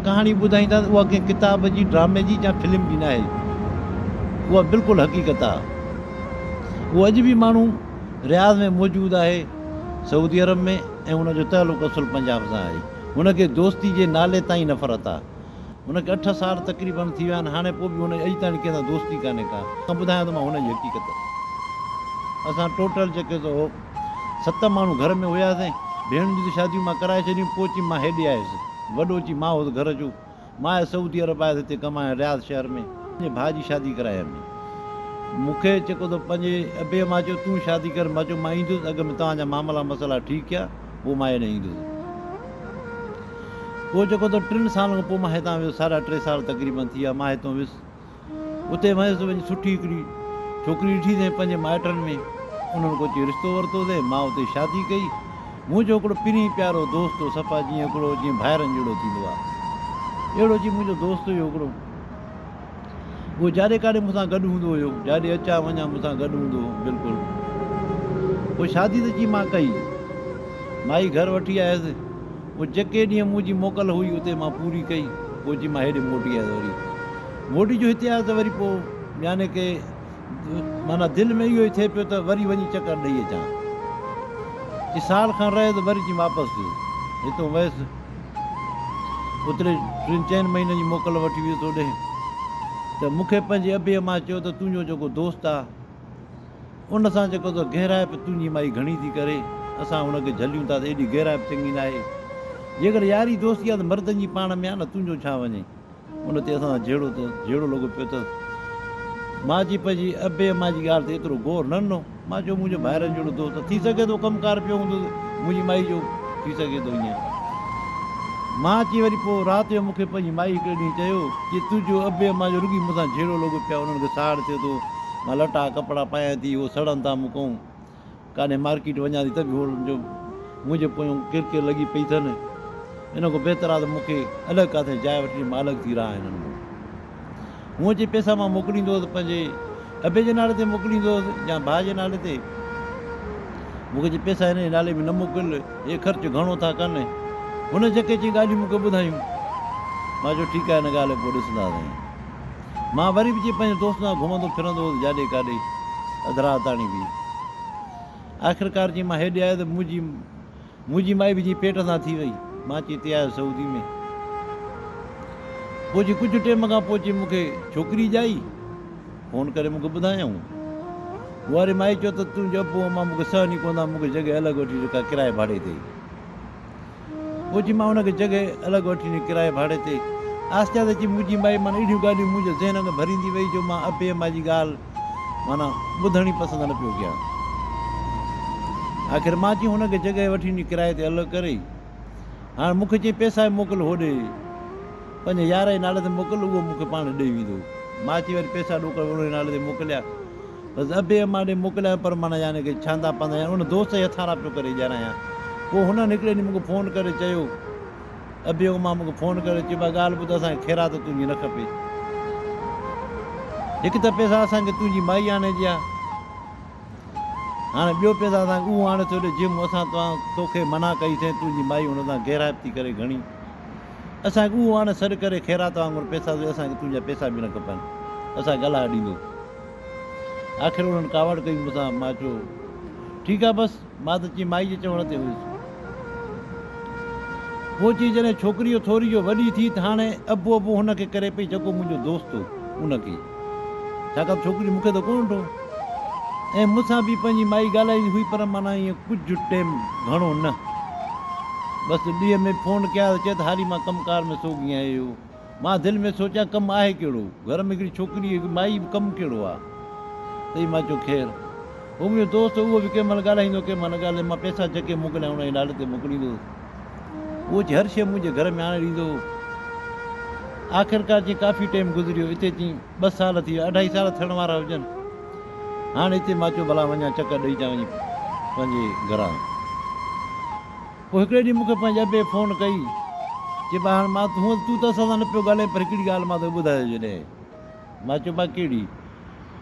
ڪهاڻي ٻڌائينداسين اها ڪنهن ڪتاب جي، ڊرامي جي يا فلم جي ناهي. اها بلڪل حقيقت آ. اهو اڄ به ماڻهو رياض ۾ موجود آهي سعودي عرب ۾ ۽ ان جو تعلق اصل پنجاب سان آهي. هن کي دوستي جي نالي تان ئي نفرت آ. هن کي اٺ سال تقريبن ٿي ويا آهن هاڻي پوء به هن جي اڄ تائڻي ڪنهن سان دوستي ڪانهي ڪا. ٻڌايان ٿو مان هن جي حقيقت. اسان ٽوٽل جيڪي سو. ست ماڻهو گهر ۾ هياسين. ڀيڻن جون ته شاديون مان ڪرائي ڇڏيون. پوء چيم مان هيڏي آيس. وڏو چيم مان هوس گهر جو. مان آيس سعودي عرب آيس هتي ڪمائڻ رياض شهر ۾. پنهنجي ڀاء جي شادي ڪرايم. مون کي چيڪو ته پنهنجي ابي مان چيو تون شادي ڪر. مان چيو مان ايندس اڳ ۾ توهان جا معاملا مسئلا ٺيڪ ڪيا پوء مان هيڏي ايندس. پوء چيڪو ته ٽن سالن کان پوء مان هتان ويس. ساڍا ٽي سال تقريبن ٿي ويا مان هتان ويس. اتي ويس ته وڃي سٺي هڪڙي ڇوڪري ڏٺي سين پنهنجي مائٽن ۾ انهن ڪو اچي رشتو ورتو سين مان اتي شادي ڪئي منهنجو هڪڙو پرين پيارو دوست هو صفا جيئن هڪڙو جيئن ڀائرن جهڙو ٿيندو آ اهڙو جي منهنجو دوست هيو هڪڙو اهو جاڏي ڪاڏي مون سان گڏ هوندو هيو جاڏي اچان وڃان مون سان گڏ هوندو هو بلڪل پوء شادي ته جي مان ڪئي مائي گهر وٺي آيس پوء جيڪي ڏينهن مون جي موڪل هئي اتي مان پوري ڪئي پوء اچي مان هيڏي موٽي آيس وري موٽي جو هتي آيس ته وري پوء يعني ڪي معنيٰ دل ۾ اهو ئي ٿئي پيو ته وري وڃي چڪر ڏئي اچان چي سال کن رهي ته وري چي واپس جو هتو ويس اوتري ٽن چئن مهينن جي موڪل وٺي ويس هوڏي ته مون کي پنهنجي ابي امان چيو ته تنهنجو جيڪو دوست آ ان سان جيڪو ته گهرائپ تنهنجي مائي گهڻي ٿي ڪري، اسان هن کي جهليون ٿا ته ايڏي گهرائپ چڱي ناهي. جيڪڏهن ياري دوستي آ ته مردن جي پاڻ ۾ آ نه تنهنجو ڇا وڃي. ان تي اسان سان جهيڙو ته جهيڙو لڳو پيو اٿس. مان جي پنهنجي ابي امان جي ڳالهه تي ايترو غور نه ڏنو. مان چيو منهنجو ڀائرن جهڙو دوست آ، ٿي سگهي ٿو ڪم ڪار پيو هوندو ته منهنجي مائي جو ٿي سگهي ٿو ائين. مان اچي وري پوء رات جو مون کي پنهنجي مائي هڪڙي ڏينهن چيو، چي تنهنجو ابي امان جو رڳي مون سان جهيڙو لڳو پيو آ، انهن کي ساڙ ٿيو ٿو. مان لٽا ڪپڙا پايان ٿي اهو سڙن ٿا مون کان ڪاڏهن مارڪيٽ وڃان ٿي ته به هو جو منهنجي پويان ڪر ڪر لڳي پئي اٿن ان کان بهتر آهي ته مون کي الڳ ڪاٿي جاء وٺي ڏي مان الڳ ٿي رهان هنن کان هونء جي پئسا مان موڪليندو هوس پنهنجي ابي جي نالي تي موڪليندو هوس يا ڀاء جي نالي تي مون کي جي پئسا هن جي نالي ۾ نه موڪل هي خرچ گهڻو ٿا ڪن هن جيڪي چي ڳالهيون مون کي ٻڌايون مان چيو ٺيڪ آهي هن ڳالهه پوء ڏسنداسين مان وري به جي پنهنجي دوستن سان گهمندو ڦرندو هوس جاڏي ڪاڏي اڌ رات تاڻي به آخرڪار جي مان هيڏي آيو ته منهنجي منهنجي مائي به جي پيٽ سان ٿي وئي مان چي تي آيو سعودي ۾ پوء جي ڪجهه ٽيم کان پوء چي مون کي ڇوڪري ڄائي فون ڪري مون کي ٻڌايائون ڪنواري مائي چيو ته تون جو ابو امان مون کي سهن ئي ڪونه ٿا مون کي جڳهه الڳ وٺي ڏي ڪا ڪرايي ڀاڙي تي موجي مان ان کي جڳهه الڳ وٺي ڏني ڪرائي ڀاڙي تي. آهستي آهستي اچي موجي مائي مان اهڙيون ڳالهيون منهنجي ذهن ۾ ڀريندي وئي جو مان ابي اما جي ڳالهه معنيٰ ٻڌڻ ئي پسند نه پيو ڪيان. آخر مان چيم هن کي جڳهه وٺي ڏني ڪرائي تي الڳ ڪري. هاڻ مون کي چئين پئسا ئي موڪل هوڏي پنهنجي يار جي نالي تي موڪل اهو مون کي پاڻ ڏئي ويندو. مان چئين وري پئسا ڏوڪڙ ان جي نالي تي موڪليا. بس ابي امان ڏي موڪليائين پر معنيٰ يعني ڪي ڇاندا پاندا يعني ان دوست جي هٿان را پيو ڪري ڄاڻايان پوء هنن هڪڙي ڏينهن مون کي فون ڪري چيو ابي امان مون کي فون ڪري چيو اها ڳالهه ٻڌ اسان کي خيرات تنهنجي نه کپي هڪ ته پئسا اسان کي تنهنجي مائي آڻي ڏي ها هاڻي ٻيو پئسا اسان کي اهو آڻي ٿو ڏي جنهن مون اسان توهان توکي منع ڪئي سين تنهنجي مائي هن تان غيرائب ٿي ڪري گهڻي اسان کي اهو آڻي سڏ ڪري خيرات وانگر پئسا سوء اسان کي تنهنجا پئسا به نه کپن اسان کي الاهه ڏيندو آخر انهن ڪاوڙ ڪئي مون سان. مان چيو، ٺيڪ آ بس. مان ته چي مائي جي چوڻ تي هيس. پوء چي جڏهن ڇوڪريء ٿوري جو وڏي ٿي ته هاڻي ابو ابو هن کي ڪري پئي جيڪو منهنجو دوست هو ان کي. ڇاڪاڻ ته ڇوڪري مون کي ته ڪونه ڏٺو ۽ مون سان به پنهنجي مائي ڳالهائيندي هئي پر معنيٰ ائين ڪجهه ٽيم گهڻو نه. بس ڏينهن ۾ به فون ڪيا ته چئي ته هاري مان ڪم ڪار ۾ سوگهي آهيو. مان دل ۾ سوچيان ڪم آهي ڪهڙو؟ گهر ۾ هڪڙي ڇوڪري هڪ مائي به ڪم ڪهڙو آ؟ تڏهن مان چيو خير هو منهنجو دوست اهو به ڪنهن مهل ڳالهائيندو ڪنهن مهل نه ڳالهائيندو مان پئسا جهڪي موڪليان ان جي نالي تي موڪليندو هوس اهو اچي هر شيء منهنجي گهر ۾ آڻي ڏيندو هو آخرڪار چيائين ڪافي ٽيم گذريو اتي چيائين ٻه سال ٿي ويا اڍائي سال ٿيڻ وارا هجن هاڻ اتي مان چيو ڀلا وڃان چڪر ڏئي چان وڃي پنهنجي گهران. پوء هڪڙي ڏينهن مون کي پنهنجي ابي فون ڪئي، چئي ٻاهر مان ته هونئن تون ته اسان سان نه پيو ڳالهائين پر هڪڙي ڳالهه مان توکي ٻڌايو جڏهن مان چيو مان ڪهڙي؟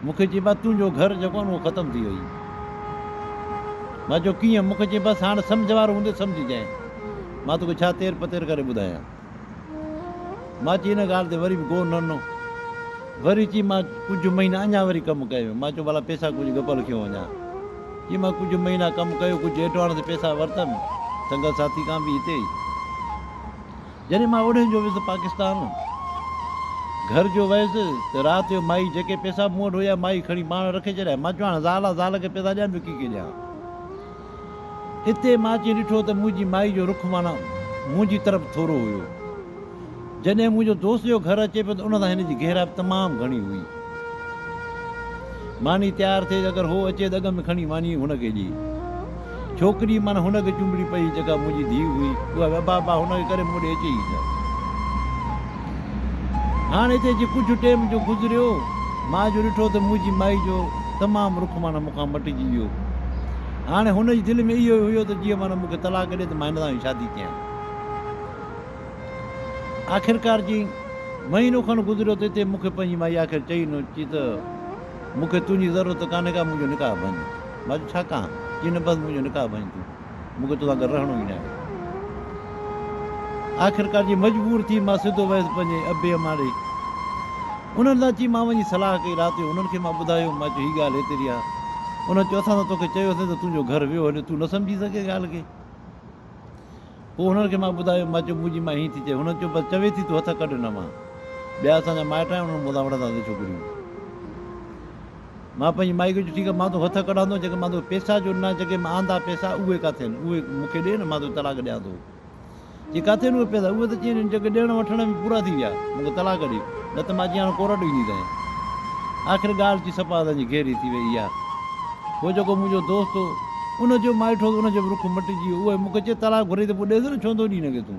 مون کي چئي مان تنهنجو گهر جيڪو آهن اهو ختم ٿي وئي مان چيو ڪيئن؟ مون کي چئي بس هاڻ سمجهه وارو هوندي سمجهه جانء مان توکي ڇا تير پتير ڪري ٻڌايان. مان چيو ان ڳالهه تي وري به غور نه ڏنو. وري چيم مان ڪجهه مهينا اڃا وري ڪم ڪيو. مان چيو ڀلا پئسا ڪجهه ڳپل کيو وڃان. چيم مان ڪجهه مهينا ڪم ڪيو، ڪجهه ايڊوانس تي پئسا ورتم، سنگت ساٿي کان به هتي ئي. جڏهن مان اوڏهين جو ويس پاڪستان، گهر جو ويس ته رات جو مائي جيڪي پئسا مون وٽ هيا، مائي کڻي پاڻ رکي ڇڏيا. مان چيو هاڻ زال آ، زال کي پئسا ڏيان ٻيو ڪي کي ڏيان. اتي مان اچي ڏٺو ته منهنجي مائي جو رخ معنيٰ منهنجي طرف ٿورو هيو. جڏهن منهنجو دوست جو گهر اچي پيو ته ان سان هن جي گهرا به تمام گهڻي هئي. ماني تيار ٿئي ته اگر هو اچي ته اڳ ۾ کڻي ماني هن کي ڏي. ڇوڪري معنيٰ هن کي چنبڙي پئي جيڪا منهنجي ڌيء هئي اها به ابا ابا هن کي ڪري مون ڏي اچي ئي نه. هاڻ هتي جي ڪجهه ٽيم جو گذريو، مان جو ڏٺو ته منهنجي مائي جو تمام رخ معنيٰ مون کان مٽجي ويو. هاڻي هن جي دل ۾ اهو ئي هيو ته جيئن معنيٰ مون کي طلاق ڏي ته مان هن سان ئي شادي ڪيان. آخرڪار جي مهينو کن گذريو ته هتي مون کي پنهنجي مائي آخر چئي ڏنو چي ته مون کي تنهنجي ضرورت ڪانهي ڪا منهنجو نڪاح ڀڃ. مان چيو ڇا ڪان؟ چي نه بس منهنجو نڪاح ڀڃ تون. مون کي توسان گڏ رهڻو ئي ناهي. آخرڪار جي مجبور ٿي مان سڌو ويس پنهنجي ابي امان ڏي. انهن سان چي مان وڃي صلاح ڪئي رات جو انهن کي مان ٻڌايو مان چيو هي ڳالهه هيتري آ. انهن چيو اسان ته توکي چيوسين ته تنهنجو گهر ويو هليو تون نه سمجهي سگهين ڳالهه کي. پوء انهن کي مان ٻڌايو مان چيو منهنجي مائي هيئن ٿي چئي هنن چيو بس چوي ٿي تون هٿ ڪڍ نه مان ٻيا اسان جا مائٽ آهن انهن مون سان وڙهندا ته ڇو ڪريون. مان پنهنجي مائي کي چيو ٺيڪ آهي مان تون هٿ ڪڍان ٿو جيڪي مان تون پيسا جو نه جيڪي مان آندا پيسا اهي ڪاٿي آهن اهي مون کي ڏي نه مان تون طلاق ڏيان ٿو چي ڪاٿي آهن اهي پيسا اهي ته چين جيڪي ڏيڻ وٺڻ ۾ پورا ٿي ويا مون کي طلاق ڏي نه ته مان جيان ڪورٽ ويندي تانئين آخر ڳالهه چي سپا اسان جي گهري ٿي وئي اها هو جيڪو منهنجو دوست هو ان جو مائٽ هو ان جو به رخ مٽجي ويو اهي مون کي چي طلاق گهري ته پوء ڏيس نه ڇو نٿو ڏي هن کي تون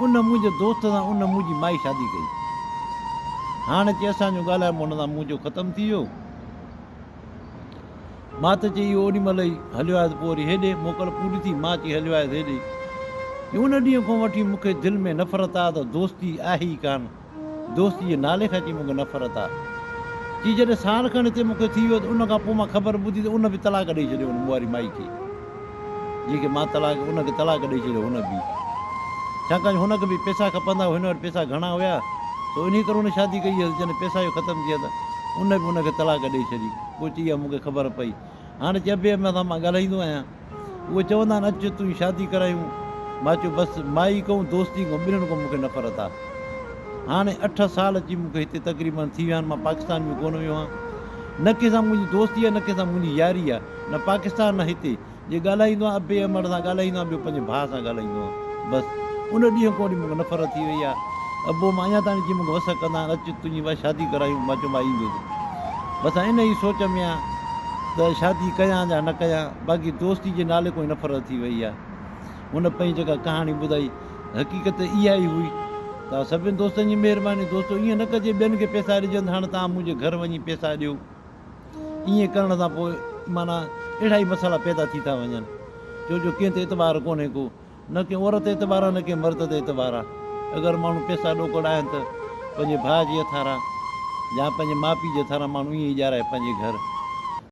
ان منهنجي دوست سان ان منهنجي مائي شادي ڪئي. هاڻ اچي اسان جو ڳالهائبو ان سان منهنجو ختم ٿي ويو. مان ته چي اهو اوڏي مهل ئي هليو آيس پوء وري هيڏي موڪل پوري ٿي مان چي هليو آيس هيڏي. چي ان ڏينهن کان وٺي مون کي دل ۾ نفرت آ ته دوستي آهي ئي ڪانه. دوستي جي نالي کان چي مون کي نفرت آ چي جڏهن سال کن هتي مون کي ٿي ويو ته ان کان پوء مان خبر ٻڌي ته ان به طلاق ڏئي ڇڏيو ان مواري مائي کي جنهن کي مان طلاق ان کي طلاق ڏئي ڇڏيو هن به ڇاڪاڻ هن کي به پيسا کپندا هئا هن وٽ پيسا گهڻا هيا سو انهي ڪري هن شادي ڪئي هيس جڏهن پيسا جو ختم ٿي ويا ته ان به ان کي طلاق ڏئي ڇڏي پوء چي اها مون کي خبر پئي هاڻ چئبي مان ڳالهائيندو آهيان. اهي چوندا آهن اچ تنهنجي شادي ڪرايون. مان چيو بس مائي ڪئون دوستي ڪئون ٻنهين کان مون کي نفرت آ. هاڻي اٺ سال اچي مون کي هتي تقريبن ٿي ويا آهن مان پاڪستان ۾ ڪونه ويو آهيان. نه ڪنهن سان منهنجي دوستي آ نه ڪنهن سان منهنجي ياري آ نه پاڪستان نه هتي. جي ڳالهائيندو آهيان ابي احمد سان ڳالهائيندو آهيان ٻيو پنهنجي ڀاء سان ڳالهائيندو آهيان بس ان ڏينهن کان وٺي مون کي نفرت ٿي وئي آ. ابو مان اڃا تائين جي مون کي وس ڪندا آهن اچ تنهنجي مان شادي ڪرايون مان چيو مان ايندس. بس آئين انهيء سوچ ۾ آهيان. ته شادي ڪيان يا نه ڪيان باقي دوستي جي نالي کان ئي نفرت ٿي وئي آهي. هن پنهنجي جيڪا ڪهاڻي ٻڌائي حقيقت اها ئي هئي ته سڀن دوستن جي مهرباني دوستو ائين نه ڪجي ٻين کي پيسا ڏجن ته هاڻي توهان منهنجي گهر وڃي پيسا ڏيو ائين ڪرڻ سان پوء معنيٰ اهڙا ئي مسئلا پيدا ٿي ٿا وڃن ڇو جو ڪنهن تي اعتبار ڪونهي ڪو نه ڪنهن عورت تي اعتبار آهي نه ڪنهن مرد تي اعتبار آهي اگر ماڻهو پيسا ڏوڪڙ آهن ته پنهنجي ڀاء جي هٿاران يا پنهنجي ماء پيء جي هٿاران ماڻهو ائين ئي ڄارائي پنهنجي گهر